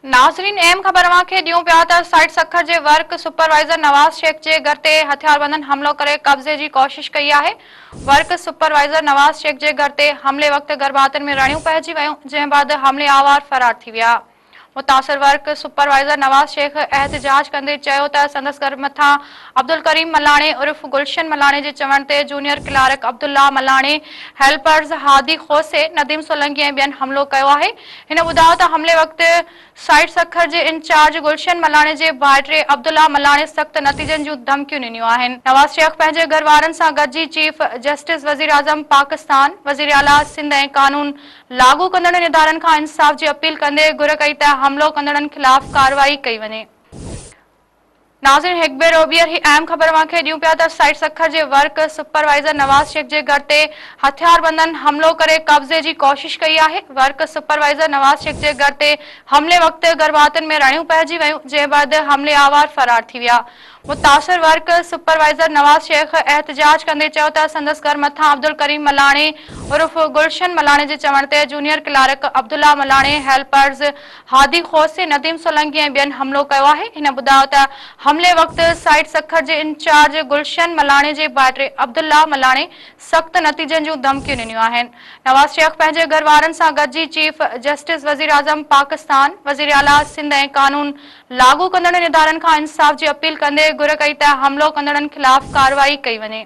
ناظرين اهم خبر اوهان کي ڏيون پيا ته سائٽ سکر جي ورڪ سپروائيزر نواز شيخ جي گهر تي هٿياربندن حملو ڪري قبضي جي ڪوشش ڪئي آهي ورڪ سپروائيزر نواز شيخ جي گهر تي حملي وقت گرڀاتين ۾ رڻيون پئجي ويون جنهن بعد حملي آوار فرار ٿي ويا متاثر ورڪ سپروائيزر نواز شيخ احتجاج ڪندي چيو ته سندس گهر مٿان عبدالڪريم ملاڻي عرف گلشن ملاڻي جي چوڻ تي junior clerk Abdullah Malani, helpers Hadi کوسي، نديم سولنگي ۽ ٻين حملو ڪيو آهي. هن ٻڌايو ته حملي وقت سائٽ سکر جي انچارج گلشن ملاڻي جي ڀائٽي عبدالله ملاڻي سخت نتيجن جون ڌمڪيون ڏنيون آهن. نواز شيخ پنهنجي گهر وارن سان گڏجي چيف جسٽس، وزيراعظم پاڪستان، وزيراعليٰ سنڌ ۽ قانون لاڳو ڪندڙن ادارن کان انصاف جي اپيل ڪندي گهر ڪئي ته حملو ڪندڙن خلاف ڪارروائي ڪئي وڃي. ناظرين هڪ ڀيرو ٻيهر هي اهم خبر اوهان کي ڏيون پيا ته سائٽ سکر جي ورڪ سپروائيزر نواز شيخ جي گهر تي هٿياربندن حملو ڪري قبضي جي ڪوشش ڪئي آهي. ورڪ سپروائيزر نواز شيخ جي گهر تي حملي وقت گهرڀاتين ۾ رڙيون پئجي ويون جنهن بعد حملي آوار فرار ٿي ويا. متاثر ورڪ سپروائيزر نواز شيخ احتجاج ڪندي چيو ته سندس گهر مٿان عبدالڪريم ملاڻي عرف گلشن ملاڻي جي چوڻ تي junior clerk Abdullah Malani helpers Hadi Khosi, Nadeem Solangi ۽ ٻين حملو ڪيو آهي. هن ٻڌايو ته حملي وقت سائيٽ سکر جي انچارج گلشن ملاڻي جي ڀائٽي عبدالله ملاڻي سخت نتيجن جون ڌمڪيون ڏنيون آهن. نواز شيخ پنهنجي گهر وارن سان گڏجي چيف جسٽس وزيراعظم پاڪستان، وزيراعليٰ سنڌ ۽ قانون لاڳو ڪندڙن ادارن کان انصاف جي اپيل ڪندي گهر ڪئي ته حملو ڪندڙن خلاف ڪارروائي ڪئي وڃي.